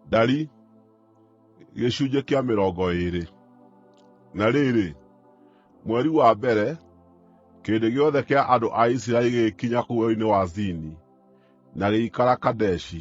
Ndari. Gĩcunjĩ kĩa mĩrongo ĩĩrĩ. Na rĩrĩ, mweri wa mbere, kĩrĩndĩ gĩothe kĩa andũ a Isiraeli gĩgĩkinya kũu werũ-inĩ wa Zini, na gĩgĩikara Kadeshi.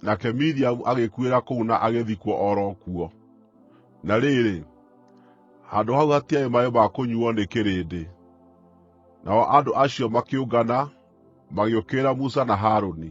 Nake Miriamu agĩkuĩra kũu na agĩthikwo o ro kuo. Na rĩrĩ, handũ hau hatiarĩ maaĩ ma kũnyuuo nĩ kĩrĩndĩ. Nao andũ acio makĩũngana, magĩũkĩrĩra Musa na Harũni.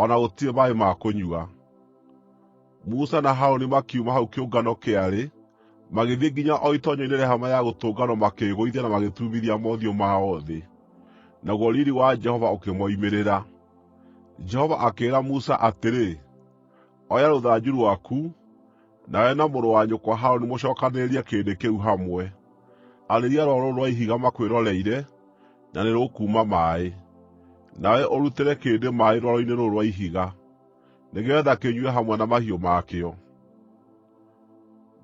o na gũtirĩ maaĩ ma kũnyua. Musa na Harũni makiuma hau kĩũngano kĩarĩ, magĩthiĩ nginya o itoonyero-inĩ rĩa Hema-ya-Gũtũnganwo makĩĩgũithia na magĩturumithia mothiũ mao thĩ, naguo riiri wa Jehova ũkĩmoimĩrĩra. Jehova akĩĩra Musa atĩrĩ, “Oya rũthanju rwaku, Nawe na mũrũ wa nyũkwa Harũni mũcookanĩrĩrie kĩrĩndĩ kĩu hamwe. Arĩria rwaro rũrũ rwa ihiga makwĩroreire, na nĩrũkuuma maaĩ. Nawe ũrutĩre kĩrĩndĩ maaĩ rwaro-inĩ rũrũ rwa ihiga, nĩgeetha kĩnyue hamwe na mahiũ ma kĩo.”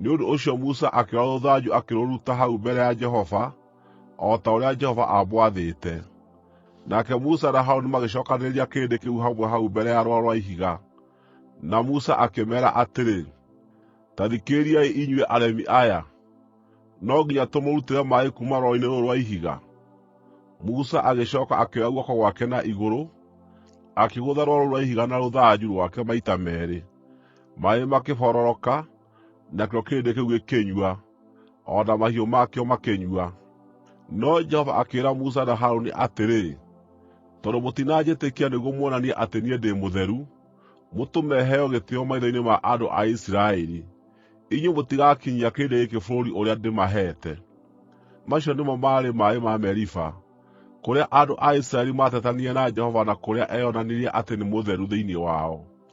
Nĩ ũndũ ũcio Musa akĩoya rũthanju akĩrũruta hau mbere ya Jehova, o ta ũrĩa Jehova aamwathĩte. Nake Musa na Harũni magĩcookanĩrĩria kĩrĩndĩ kĩu hamwe hau mbere ya rwaro rwa ihiga. Na Musa akĩmeera atĩrĩ, “Ta thikĩrĩriai inyuĩ aremi aya! No nginya tũmũrutĩre maaĩ kuuma rwaro-inĩ rũrũ rwa ihiga?” Musa agĩcooka akĩoya guoko gwake na igũrũ, akĩgũtha rwaro rũu rwa ihiga na rũthanju rwake maita meerĩ, maaĩ makĩbororoka. nakĩo kĩrĩndĩ kĩu gĩkĩnyua, o na mahiũ makĩo makĩnyua. No Jehova akĩĩra Musa na Harũni atĩrĩ, “Tondũ mũtinanjĩtĩkia nĩguo muonanie atĩ niĩ ndĩ mũtheru, mũtũme heo gĩtĩĩo maitho-inĩ ma andũ a Isiraeli, inyuĩ mũtigakinyia kĩrĩndĩ gĩkĩ bũrũri ũrĩa ndĩmaheete.” Macio nĩmo maarĩ maaĩ ma Meriba, kũrĩa andũ a Isiraeli maatetanirie na Jehova na kũrĩa eeyonanirie atĩ nĩ mũtheru thĩinĩ wao.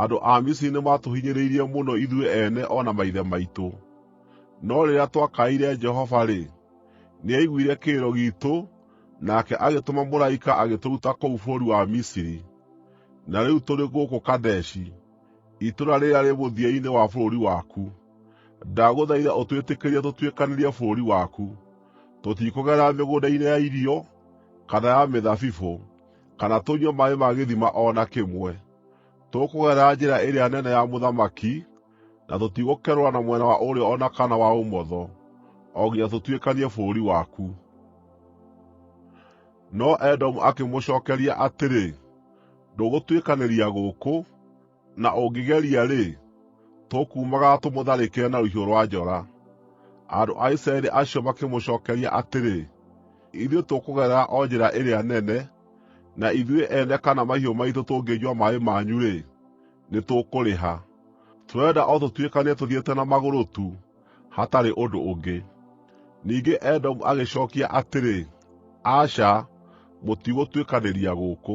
Andũ a Misiri nĩmatũhinyĩrĩirie mũno ithuĩ ene o na maithe maitũ. No rĩrĩa twakaĩire Jehova-rĩ, nĩaiguire kĩrĩro giitũ nake agĩtũma mũraika agĩtũruta kũu bũrũri wa Misiri, na rĩu tũrĩ gũkũ Kadeshi, itũũra rĩrĩa rĩ mũthia-inĩ wa bũrũri waku. Ndagũthaitha ũtwĩtĩkĩrie tũtuĩkanĩrie bũrũri waku. Tũtikũgerera mĩgũnda-inĩ ya irio, kana ya mĩthabibũ, kana tũnyue maaĩ ma gĩthima o na kĩmwe. Tũkũgerera njĩra ĩrĩa nene ya mũthamaki, na tũtigũkerũra na mwena wa ũrĩo o na kana wa ũmotho, o nginya tũtuĩkanie bũrũri waku.” No Edomu akĩmũcookeria atĩrĩ: “Ndũgũtuĩkanĩria gũkũ.” na ũngĩgeria-rĩ, tũkuumagara tũmũtharĩkĩre na rũhiũ rwa njora.” Andũ a Isiraeli acio makĩmũcookeria atĩrĩ, “Ithuĩ tũkũgerera o njĩra ĩrĩa nene, na ithuĩ ene kana mahiũ maitũ tũngĩnyua maaĩ manyu-rĩ, nĩtũkũrĩha. Tũrenda o tũtuĩkanie tũthiĩte na magũrũ tu, hatarĩ ũndũ ũngĩ.” Ningĩ Edomu agĩcookia atĩrĩ, “Aca, mũtigũtuĩkanĩria gũkũ.”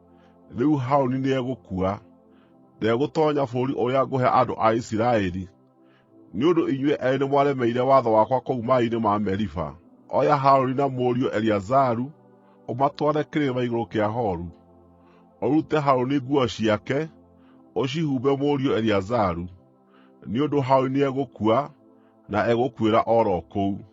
Rĩu Harũni nĩegũkua. Ndegũtoonya bũrũri ũrĩa ngũhe andũ a Isiraeli, nĩ ũndũ inyuĩ eerĩ nĩmwaremeire watho wakwa kũu maaĩ-inĩ ma Meriba. Oya Harũni na mũriũ Eleazaru ũmatware kĩrĩma igũrũ kĩa Horu. Ũrute Harũni nguo ciake, ũcihumbe mũriũ Eleazaru, nĩ ũndũ Harũni nĩegũkua, na egũkuĩra o ro kũu.”